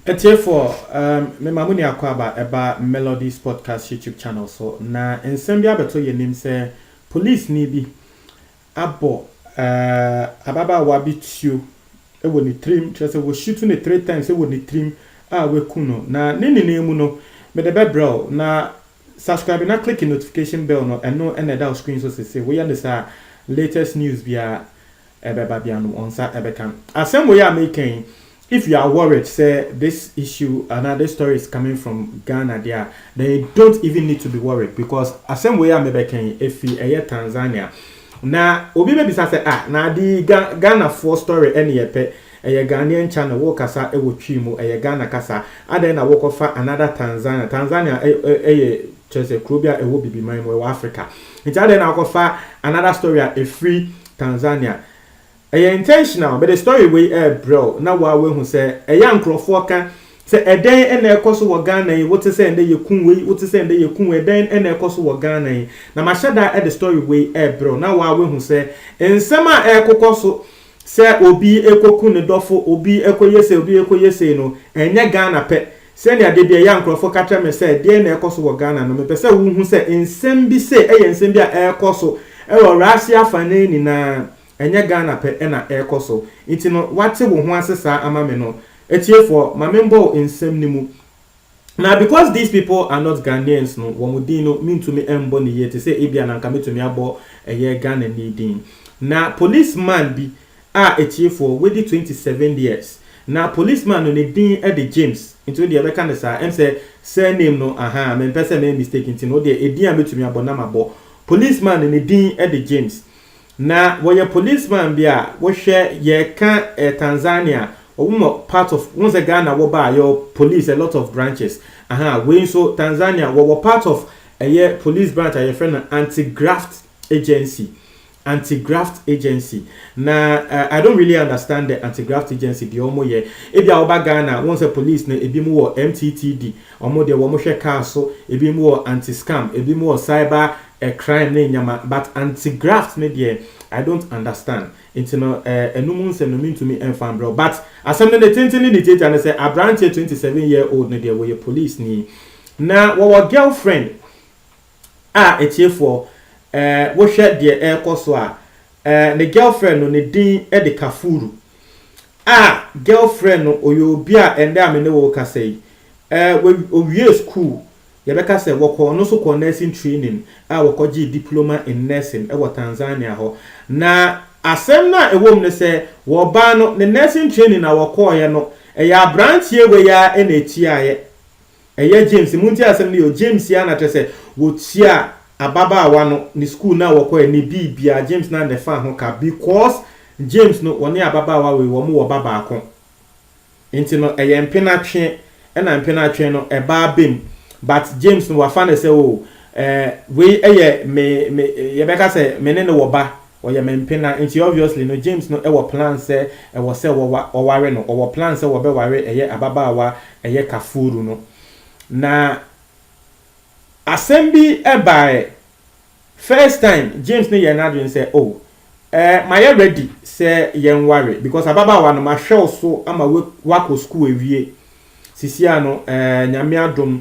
Atiefoɔ, um, me ma mo ni akwaaba ɛba Melodies Podcast YouTube channel so, na nsɛm bi abɛto yɛn anim sɛ polisini bi abɔ uh, ababaawa bi tuo wɔ ne tirim, kyerɛ sɛ wɔhyutu ne three times wɔ ne tirim a waku no, na ne nyinaa mu no, mede bɛbrɛ wo, na Subscribe na click notification bell no ɛno na ɛda wo screen so sese woyɛ no saa a latest news biara ɛbɛba biara no wɔn nsa ɛbɛka no. Asɛm wei a meka yi if you are worried sɛ this issue anaa this story is coming from Ghana deɛ a then you don't even need to be worried because asɛm wei a mebɛka yi ɛfiri ɛyɛ Tanzania na obi bɛbisa sɛ ah na ade yi Ga Ghanafoɔ story ɛne yɛpɛ Ɛyɛ Ghanaian channel wo kasa wɔ twi mu ɛyɛ Ghana kasa adɛn na wo kɔ fa another Tanzania Tanzania ɛyɛ kyerɛ sɛ kuro bi a ɛwɔ bibiman mu ɛwɔ Africa nti adɛn na wo kɔ fa another story a ɛfiri Tanzania ɛyɛ intentional mede story wei ɛɛbrɛ wo na wo a woahu sɛ ɛyɛ a nkorɔfoɔ ka sɛ ɛdɛn na ɛkɔ so wɔ Ghana yi wo te sɛ ɛndɛ yɛ ku wei wo te sɛ ɛndɛ yɛ ku wei ɛdɛn na ɛkɔ so wɔ Ghana yi na mahyɛ da de story wei ɛɛbrɛ wo na wo a woahu sɛ nsɛm a ɛɛkokɔ so Sɛ obi kɔku ne dɔfo, obi kɔyɛ sei, obi kɔyɛ sei no, ɛnyɛ Ghana pɛ. Sɛnea da biara yɛ a nkurɔfo ka kyerɛ me sɛ, deɛn na ɛrekɔ so wɔ Ghana no, mepɛ sɛ wohu sɛ nsɛm bi sei yɛ nsɛm bi a ɛrekɔ so wɔ Russia afanan nyinaa. Ɛnyɛ Ghana pɛ na ɛrekɔ so. Nti no, woate wo ho ase saa ama me no? Atiefoɔ, ma memmɔ wo nsɛm no mu. Na because these people are not Ghanaians no, wɔn din no mentumi mmɔ no yie te sɛ ebia na anka mɛtumi abɔ ɛyɛ Ghanani din. Na police man bi a atiefoɔ, wadi twenty seven years. Na police man no ne din de James, nti wodeɛ yɛbɛka no saa, ɛm sɛ surname no ahaa, mempɛ sɛ mɛyɛ mistake nti no wodeɛ edin a mɛtumi abɔ na mabɔ. Police man no ne din de James. Na wɔyɛ police man bi a wohwɛ yɛka eh Tanzania ɔmo wɔ part of wohu sɛ Ghana wɔ baa yɛwɔ police a lot of branches ahaa wei nso Tanzania wɔwɔ part of ɛyɛ police branch a yɛfrɛ no anti graft agency anti graft agency na eh I don't really understand the anti graft agency deɛ ɔmo yɛ ebia woba Ghana wohu sɛ police no ebi mo wɔ MTTD ɔmo deɛ wɔmo hwɛ car so ebi mo wɔ anti scam ebi mo wɔ cyber Ɛkran ne nneɛma but anti graft no deɛ I don't understand nti no eh ɛno mu nsɛm no mentumi mfa mbrɛ wo but asɛm no ne tenten ne ne tiatia ne sɛ abranteɛ twenty seven year old no deɛ wɔyɛ police ni na wɔwɔ girl friend a atiefoɔ eh wohwɛ deɛ ɛrekɔ so a eh ne girl friend no ne din de Kafuru a girl friend no ɔyɛ obi a ɛndɛ a me ne wo rekasa yi eh wawie school Yɛbɛka sɛ wɔkɔɔ no so kɔɔ nursing training a wɔkɔgyee diploma in nursing wɔ Tanzania hɔ. Na asɛm no a ɛwɔ mu ne sɛ wɔbaa no ne nursing training a wɔkɔeɛ no ɛyɛ abranteɛ wei ara na ɛtiaeɛ. Ɛyɛ James, montie asɛm no yie o, James ara na kyerɛ sɛ wɔtiaa ababaawa no ne school no a wɔkɔeɛ ne biribiara, James no ara na ɛfaa ho ka because James no wɔne ababaawa wei wɔn wɔ ba baako. Nti no ɛyɛ mpenatwe ɛna mpenatwe no ɛba abem but James no wafa no sɛ oh eh wei ɛyɛ me me yɛbɛka sɛ me ne no wɔ ba ɔyɛ me mpena nti obviously no James no ɛwɔ plan sɛ ɛwɔ sɛ wɔwa wɔware no ɔwɔ plan sɛ wɔbɛware ɛyɛ ababaawa ɛyɛ Kafuru no na asɛm bi ɛbaɛ First time James no yɛɛ n'adwene sɛ oh eh mayɛ ready sɛ yɛn ware because ababaawa no mahwɛ wo so ama woakɔ school awie sisia no eh nyame adom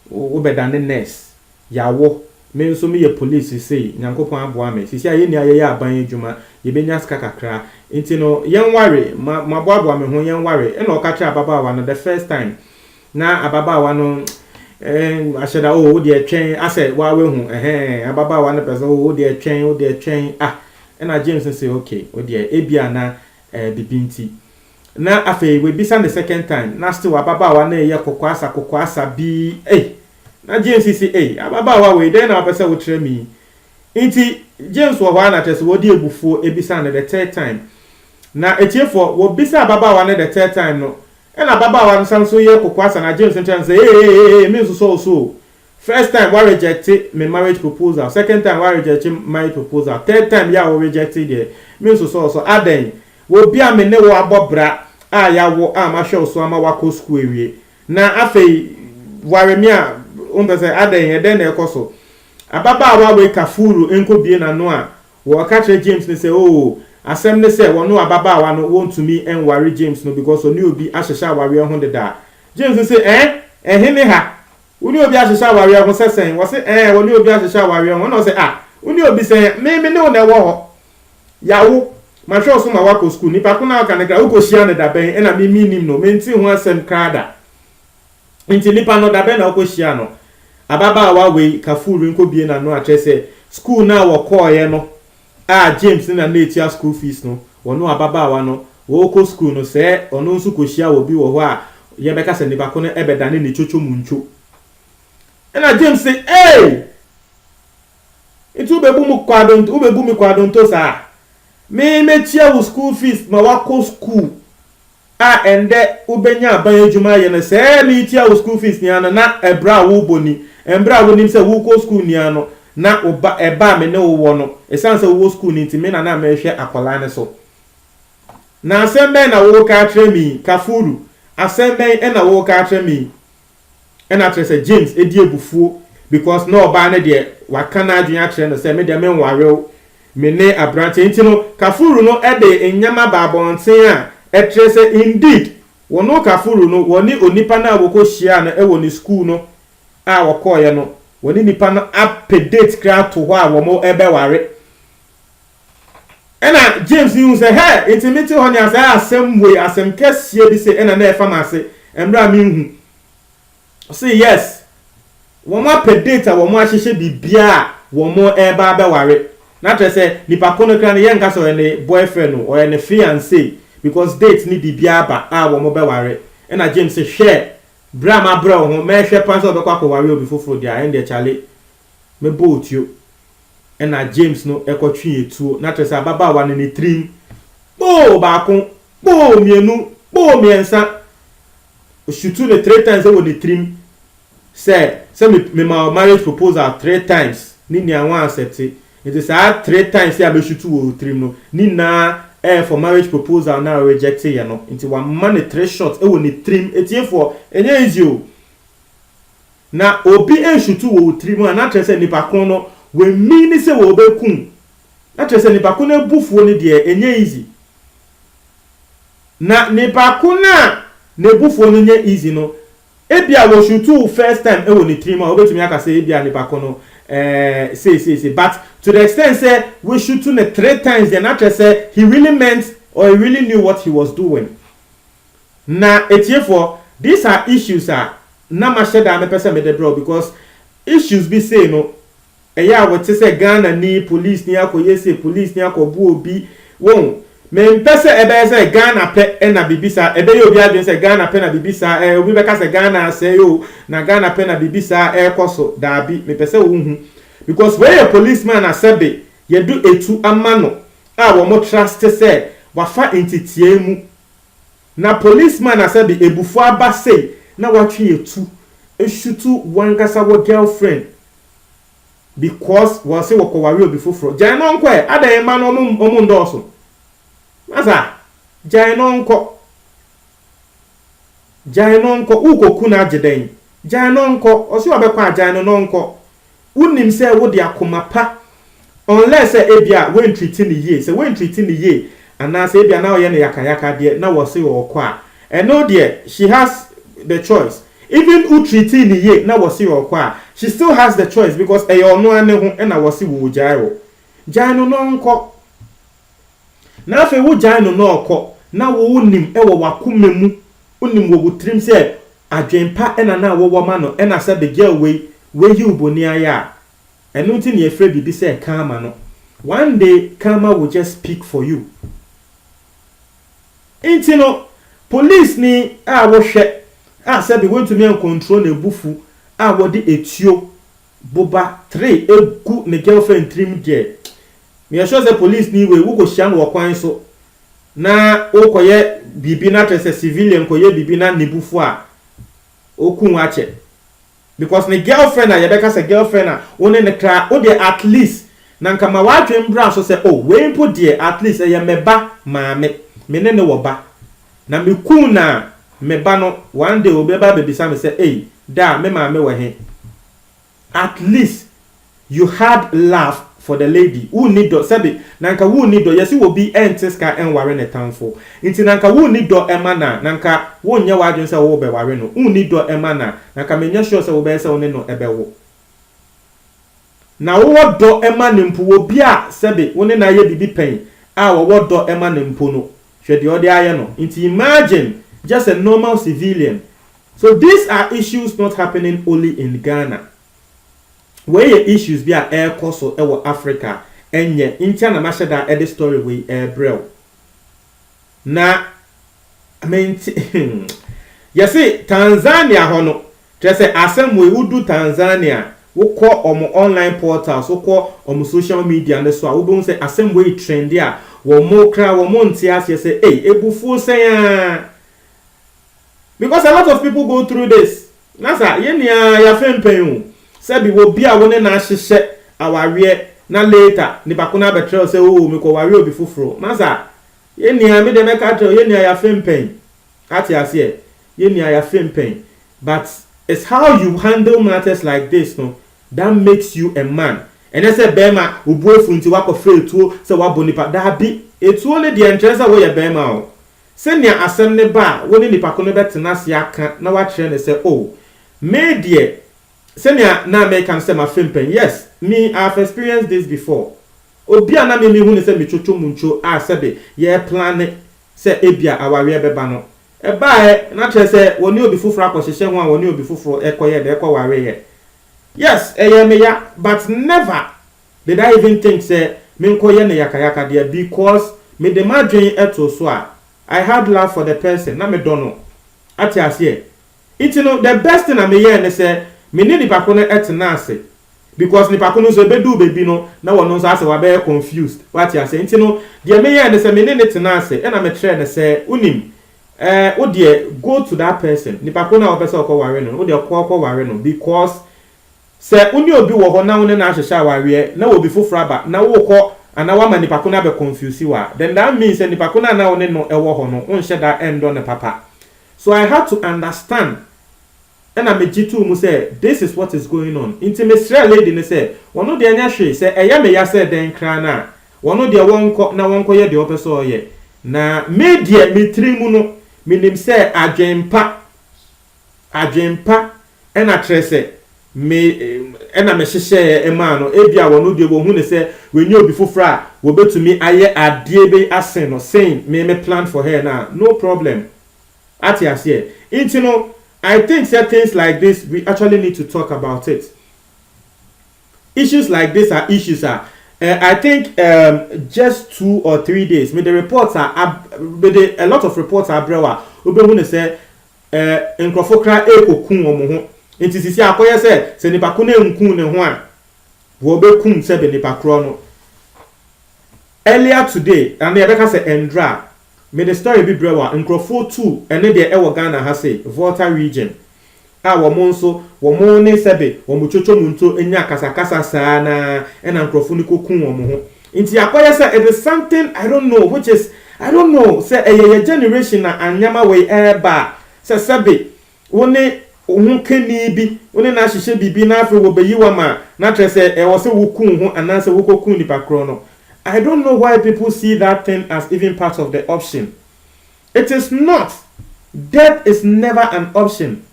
wo bɛdane nurse yawo me nso meyɛ police sesei nyankopɔn aboa me sisia yɛn nyinaa yɛyɛ aban adwuma yɛbɛnya sika kakra nti no yɛn ware ma maboaboa me ho yɛn ware ɛna ɔka kyerɛ ababaawa no the first time Na ababaawa no eh, ahyɛ da oh, wo deɛ twɛn asɛ waa wahu ɛhɛn eh, ababaawa no pɛ sɛ oh, wo deɛ twɛn wo deɛ twɛn ah ɛna James no sɛ okay wo deɛ ebia na eh, bibi nti na afei wabisa ne second time na still ababaawa no yɛ kɔkɔ asa kɔkɔ asa bi eh na James si eh ababaawa wei dɛn na wopɛ sɛ wokyerɛ mi nti James wɔ hɔ a na kyerɛ sɛ wɔde ebufuo ebisa no the third time na etiefoɔ wɔbisa ababaawa no the third time no Ɛna ababaawa no san so yɛ kokoa sa na James no kyerɛ no sɛ ee ee ee me nsosɔ wo so o. First time wa reject me marriage proposal, second time wa reject marriage proposal, third time yi a wo reject yi deɛ me nsosɔ wo so, adɛn? Wɔ bi a me ne wo abɔ bra a yawo a mahwɛ wo so ama wakɔ school awie na afei ware me a wompɛ sɛ adɛn ɛdɛn na ɛkɔ so? Ababaawa wei ka fuuru nkɔ bie n'ano a Wɔka kyerɛ James no sɛ oo asɛm ne sɛ wɔno ababaawa no wɔntumi nware James no because ɔne obi ahyehyɛ awareɛ ho deda. James no se ɛɛn? Ɛhe ne ha? Wone obi ahyehyɛ awareɛ ho sɛ sɛn? Wɔse ɛɛn wɔne obi ahyehyɛ awareɛ ho. Ɛna ɔse ah wone obi sɛn? Me me ne wo na ɛwɔ hɔ. Yawo. Mahwɛ wo so ma woakɔ sukuu. Nipa ko no a woka no kra wokɔhyiaa no da bɛn? Ɛna me mennim no. Mentee ho asɛm kra da. Enti nipa no, da bɛn na wokohyiaa no? Ababaawa wei, Kafur nkɔbue n'ano akyerɛ sɛ sukuu no a wɔkɔeɛ no a James na na ɛtua school fees no, wɔne ababaawa no wɔrekɔ sukuu no, sɛ ɔno nso kɔhyiaa obi wɔ hɔ a yɛbɛka sɛ nipa ko no bɛdane ne kyokyo mu ntwo. Ɛna James se, Ei! Nti wobɛbu mu kwa donto, wobɛbu me kwa donto saa? Me mɛtua wo school fees ma woakɔ sukuu. a ɛndɛ wobenya aban edwuma ayɛ no, sɛ meetua wo skuul fees nyina no, na ɛberɛ a woobɔ ni, mberɛ a wonim sɛ wookɔ skuul nyina no, na wo ba, ɛbɛ a me ne wo wɔ no, esiane sɛ wowɔ skuul no nti, me na na merehwɛ akɔlaa no so. Na asɛm bɛn na wooka akyerɛ me yi, Kafuru, asɛm bɛn na wooka akyerɛ me yi? ɛna kyerɛ sɛ James di abufuo because na ɔbaa no deɛ waka n'adwene akyerɛ no sɛ me deɛ menware wo, me ne aberanteɛ nti no Kafuru no de nneɛma baa abɔnten a ɛkyerɛ sɛ indeed wɔne Kafuru no wɔne onipa no a wɔkɔ hyiaa no wɔ ne sukuu no a wɔkɔeɛ no wɔne nipa no apɛ date koraa ato hɔ a wɔbɛware. Ɛnna James hui sɛ, Hɛ! Enti mete hɔ nea saa asɛm wei, asɛm kɛseɛ bi se ɛnna na ɛrefa m'ase, mmerɛ a menhu. Ɔse, Yes, wɔn apɛ date a wɔn ahyehyɛ biribiara a wɔn reba abɛware. Na kyerɛ sɛ, nipa ko no koraa no, yɛnka sɛ ɔyɛ ne boyfriend o, ɔyɛ ne fiancee, because date ne biribiara aba a wɔn bɛware. Ɛnna James se, Hwɛ! Berɛ a mabrɛ wo ho, mɛrehwɛ paa sɛ wobɛkɔ akɔware obi foforɔ deɛ a, ɛndeɛ kyale, mɛbɔ wo tuo. ɛna James no kɔ twee etuo na kyerɛ sɛ ababaawa no ne tirim kpoo baako kpoo mmienu kpoo mmiɛnsa osutu no three times ɛwɔ ne tirim sɛ sɛ me me ma marriage proposal three times ne nua wɔn accept nti saa three times a bɛsutu wɔ tirim no ne nyinaa ɛyɛ for marriage proposal na reject yɛ no nti wama ne three shots ɛwɔ ne tirim etiefoɔ ɛnyɛ easy o. Na obi ansutu wɔ wo tirim a, na kyerɛ sɛ nipa ko no w'amiini sɛ wɔbɛku wo, na kyerɛ sɛ nipa ko no abufuo no deɛ ɛnyɛ easy. Na nipa ko no a n'abufuo no nyɛ easy no, ebia wɔsutu wo first time ɛwɔ ne tirim a, wobɛtumi aka sɛ ebia nipa ko no ɛɛ sei sei sei, but to the extent sɛ w'asutu no three times deɛ, na kyerɛ sɛ he really meant or he really knew what he was doing. Na atiefoɔ, these are issues a na mahyɛ da a mepɛ sɛ mede brɛ wo because issues bi sei no ɛyɛ a wote sɛ Ghana ni police ni akɔyɛ sei, police ni akɔbu obi, wohu, mempɛ sɛ ɛbɛyɛ sɛ Ghana pɛ na biribi saa, ɛbɛyɛ obi adwene sɛ Ghana pɛ na biribi saa ɛɛ, obi bɛka sɛ Ghana asɛe o, na Ghana pɛ na biribi saa ɛɛkɔ so, daabi, mepɛ sɛ wohu because wei yɛ policeman a sɛbe yɛdo atu ama no a wɔn trust sɛ wafa nteteɛɛ mu Na police man a sɛbi ebufuo aba sei na watwe etu eshutu wankasa wo girl friend because wɔse wɔkɔ ware obi foforɔ gyae no ɔnkɔ ɛ adɛn mma no ɔmo ɔmo ndɔɔso masa gyae no ɔnkɔ gyae no ɔnkɔ wokɔ ku no agye dɛn gyae no ɔnkɔ ɔse ɔbɛkɔ a gyae no na ɔnkɔ Wonim sɛ wode akoma pa unless sɛ ebia woantriti no yie, sɛ woantriti no yie anaasɛ ebia na ɔyɛ no yaka yaka deɛ na wɔse ɔɔkɔ a ɛno deɛ she has the choice even wo tritii no yie na wɔse ɔɔkɔ a she still has the choice because ɛyɛ ɔno ara ne ho na wɔse wɔɔgyae wo gyae no na ɔnkɔ. na afei wogyae no na ɔkɔ, na wo wonim wɔ w'akoma mu, wonim wɔ wo tirim sɛ adwene pa na na wowɔ ma no, ɛna sɛ begyaw wei, wayi wo boni ayɛ a, ɛno nti na yɛfrɛ biribi sɛ karma no. One day karma will just speak for you. Nti no, polisini a wohwɛ a sɛbe woantumi ancontrol n'abufuw a wɔde etuo boba tre gu ne girlfriend tirim deɛ meyɛ sure sɛ police ni wei wokɔ hyia no wɔ kwan so na wokɔ yɛ biribi na kyerɛ sɛ civilian kɔ yɛ biribi na ne bu fu a ɔku wo akyɛ because ne girlfriend a yɛbɛka sɛ girlfriend a wo ne ne kra wo deɛ at least na nka ma w'adwene mbra so sɛ oh wei mpo deɛ at least ɛyɛ mɛba maame me ne ne wɔ ba. Na me kunu na me ba no one day obi bɛba abɛbisa me sɛ ei daa me maame wɔ he? At least you had love for the lady, wonni dɔ sɛbe na nka wonni dɔ, yɛse obi nte ska nware ne tamfo nti na nka wonni dɔ ma no a na nka wonyɛ w'adwene sɛ worebɛware no, wonni dɔ ma no a na nka menyɛ sure sɛ wobɛyɛ sɛ wo ne no bɛwo. Na wowɔ dɔ ma no mpo, obi a sɛbe wo ne no ayɛ biribi pɛn a wɔwɔ dɔ ma no mpo no, Hwɛ deɛ ɔde ayɛ no nti imagine just a normal civilian so these are issues not happening only in Ghana wei yɛ issues bi a ɛrekɔ so wɔ Africa ɛnyɛ ntia na mahyɛ da de story wei rebrɛ wo na mente yɛse Tanzania hɔ no Kyerɛ sɛ asɛm wei wodu Tanzania a, wokɔ wɔn online portals, wokɔ wɔn social media no so a, wobɛhu sɛ asɛm wei trɛnde a wɔn koraa wɔnte aseɛ sɛ ei, abufuo sɛn ara because a lot of people go through this. Na sa, yɛn nyinaa yɛafempɛn o, sɛbi obi a wo ne no ahyehyɛ awareɛ na later nipa ko no abɛkyerɛ wo sɛ oo mekɔwaree obi foforɔ. Na sa, yɛn nyinaa, me deɛ mɛka akyerɛ wo, yɛn nyinaa yɛafempɛn. Ate aseɛ yɛn nua yɛafem pɛn but it's how you handle matters like this no that makes you a man ɛnyɛ sɛ bɛɛma wobu afu nti woakɔ frɛ etuo sɛ woabɔ nipa daabi etuo no deɛ nkyerɛ sɛ woyɛ bɛɛma o sɛnea asɛm no ba a wone nipa ko no bɛtena ase aka na woakyerɛ no sɛ oh me deɛ sɛnea na meka no sɛ mafem pɛn yes me I have experienced this before obi a na me mehu no sɛ metwotwo mu ntwo a sɛbe yɛreplane sɛ ebia awareɛ bɛba no, ɛbaeɛ, na kyerɛ sɛ wɔne obi foforɔ akɔhyehyɛ ho a wɔne obi foforɔ kɔyɛɛ dɛ kɔ wareeɛ. Yes, ɛyɛɛ me ya but never did I even think sɛ menkɔyɛ no yakayaka deɛ because mede m'adwene too so a I had love for the person, na medɔ no, ate aseɛ? Nti no the best thing a meyɛɛ ne sɛ me ne nipa ko no tenaa ase because nipa ko no nso ɛbɛduu baabi no na wɔno nso asɛ wabɛyɛ confused, wate aseɛ? Nti no deɛ meyɛɛ ne sɛ me ne no tenaa ase ɛna me kyerɛɛ no sɛ wonim eh wo deɛ go to that person, nipa ko no a wopɛ sɛ wokɔ ware no no wo deɛ kɔ kɔ ware no because sɛ wo ne obi wɔ hɔ na wo ne no ahyehyɛ awareɛ na obi foforɔ aba na wokɔ anaa woama nipa ko no abɛ confuse wo a then that means sɛ nipa ko no a na wo ne no wɔ hɔ no wonhyɛ da nnɔ no papa So I had to understand ɛna me gye too mu sɛ this is what is going on nti me srɛɛ lady no sɛ ɔno deɛ nyɛ hwee sɛ ɛyɛ me ya sɛ dɛn kraa no a ɔno deɛ wɔnkɔ na wɔnkɔ yɛ deɛ ɔpɛ sɛ ɔyɛ na me deɛ me tiri mu no me nim sɛ adwen pa adwen pa Ɛna kyerɛ sɛ, me, ɛna mehyehyɛɛ maa no. Ebia wɔn deɛ wɔhu no sɛ wanya obi foforɔ a wɔbɛtumi ayɛ adeɛ bi asen no, sen me me plan for her no a, no problem. Ate aseɛ? Nti no, I think sɛ things like this, we actually need to talk about it. Issues like this are issues a, eh, I think um, just two or three days, mede reports a, ab, mede a lot of reports abrɛ wo a, wobɛhu no sɛ, Eh, nkurɔfo kra ɛrekoku wɔn ho, nti sisi akɔyɛ sɛ, sɛ nipa ko no anku ne ho a, wɔbɛkum sɛbe nipa korɔ no. Earlier today, ɛnna yɛbɛka sɛ ɛndra a, mede story bi brɛ wo a, nkurɔfoɔ tu ɛne deɛ ɛwɔ Ghana ha sei, Volta region, a wɔn nso, wɔn ne sɛbe wɔn twotwo monto nya akasakasa saa no ara, ɛnna nkurɔfo no kɔku wɔn ho. Nti akɔyɛ sɛ it is something I don't know which is I don't know sɛ ɛyɛ yɛ generation na anneɛma wei reba a sɛ sɛbe wo ne wo ho kanii bi wo ne no ahyehyɛ biribi na afei wɔbɛyi wo ama na kyerɛ sɛ ɛwɔ sɛ wo ku wo ho anaasɛ wo kɔku nipa korɔ no I don't know why people see that thing as even part of the option it is not death is never an option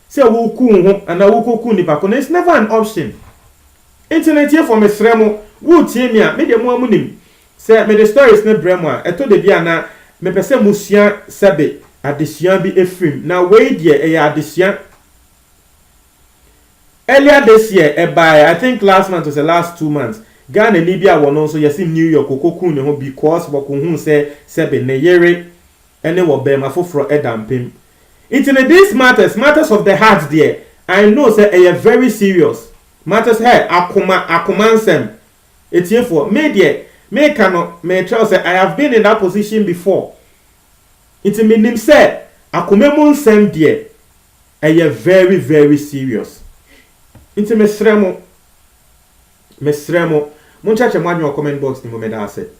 sɛ wo ku wo ho anaa wo kɔku nipa korɔ no it's never an option Nti no atiefo mesrɛ mo wo tie me a me deɛ mo ara mo nim sɛ me de stories no brɛ mo a ɛtɔ dabi a na me pɛ sɛ mo sua sɛbe adesua bi ɛfiri mu na wei deɛ ɛyɛ adesua earlier this year ɛbaeɛ I think last month ɔsɛ last two months Ghana ni bi a wɔno nso yɛse New York ɔkɔ kuu ne ho because wɔkɔ huu sɛ sɛbe ne yere ne wɔ bɛɛma foforɔ da mpem nti no this matters matters of the heart deɛ I know sɛ ɛyɛ very serious matters hɛ akoma akoma nsɛm ɛtiefoɔ me deɛ meka no mekyerɛw sɛ I have been in that position before nti menim sɛ akoma mu nsɛm deɛ ɛyɛ very very serious nti mesrɛ mo mesrɛ mo monkyɛkyɛ mo adwene wɔ comment box no mu medaase.